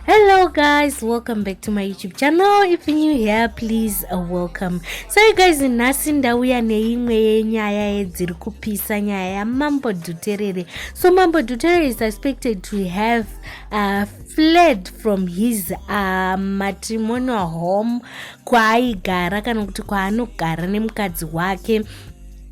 hello guys welcome back to my youtube channel if new here please uh, welcome so you guys nhasi ndauya neimwe yenyaya yedziri kupisa nyaya yamambo dhuterere so mambo dhuterere is expected to have uh, fled from his uh, matrimonial home kwaaigara kana kuti kwaanogara nemukadzi wake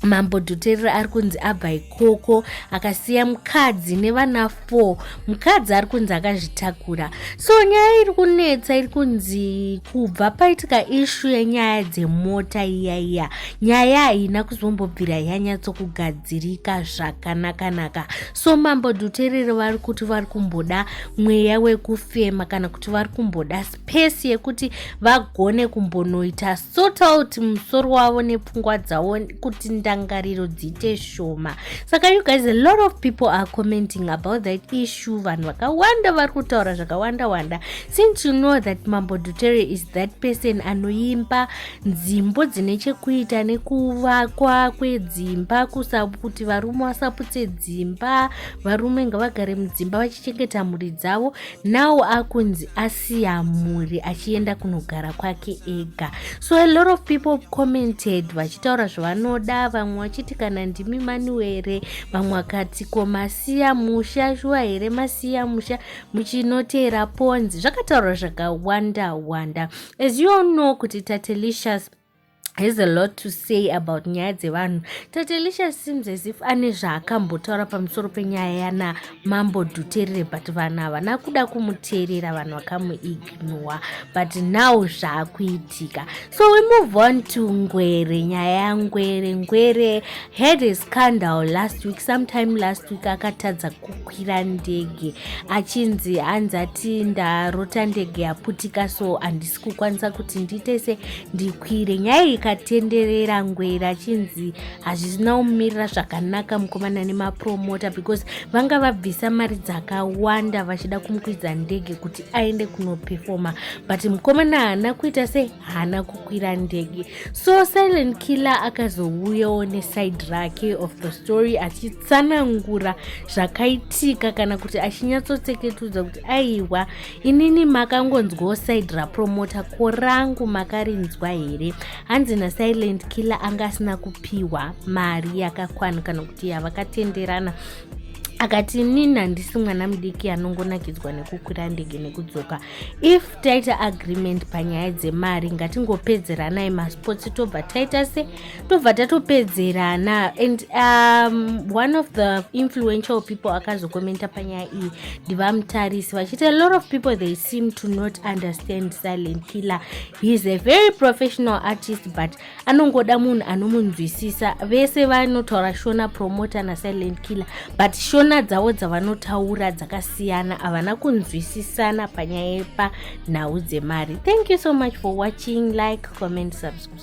mambo dhuterera ari kunzi abva ikoko akasiya mukadzi nevana 4 mukadzi ari kunzi akazvitakura so nyaya iri kunetsa iri kunzi kubva paitika ishu yenyaya dzemota iya iya nyaya haina kuzombobvira yanyatsokugadzirika zvakanakanaka so mambo dhuterera vari kuti vari kumboda mweya wekufema kana kuti vari kumboda spesi yekuti vagone kumbonoita sort out musoro wavo nepfungwa dzavo kuti ndangariro dziite shoma saka you guys a lot of people are commenting about that issue vanhu vakawanda vari kutaura zvakawanda wanda since you know that mambo dutere is that person anoimba nzimbo dzine chekuita nekuvakwa kwedzimba kuti varume vasaputse dzimba varume ngavagare mudzimba vachichengeta mhuri dzavo now akunzi as asiya mhuri achienda kunogara kwake ega so a lot of people commented vachitaura zvavanoda vamwe vachiti kana ndimi maniwere vamwe vakati ko masiya musha shuwa here masiya musha muchinoteera ponzi zvakataurwa zvakawanda wanda as you all know kuti tatelicious has a lot to say about nyaya dzevanhu tatelisha seems as if ane zvaakambotaura pamusoro penyaya yana mambo duterere but vanhu havana kuda kumuteerera vanhu vakamuignowa but now zvaakuitika so we move on to ngwere nyaya yangwere ngwere had a scandal last week sometime last week akatadza kukwira ndege achinzi hanzi ati ndarota ndege yaputika so handisi kukwanisa kuti ndiitese ndikwire nyaya ikatenderera ngwera achinzi hazvina kumirira zvakanaka mukomana nemapromota because vanga vabvisa mari dzakawanda vachida kumukwidza ndege kuti aende kunopefoma but mukomana haana kuita se haana kukwira ndege so silent killer akazouyawo neside rake of the story achiti tsanangura zvakaitika kana kuti achinyatsotseketudza kuti aiwa inini makangonzwawo side rapromota ko rangu makarinzwa here hanzi nasilent killer anga asina kupiwa mari yakakwana kana kuti yavakatenderana akati inini handisi mwana mudiki anongonakidzwa nekukwira ndege nekudzoka if taita agreement panyaya dzemari ngatingopedzeranai masports tobva taita se tobva tatopedzerana and um, one of the influential people akazokomenta panyaya iyi ndivamutarisi vachiti a lot of people they seem to not understand silent killer heis a very professional artist but anongoda munhu anomunzwisisa vese vanotaura shona promoter nasilent killer but shona dzavo dzavanotaura dzakasiyana havana kunzwisisana panyaya yepa nhau dzemari thank you so much for watching like comment subscribe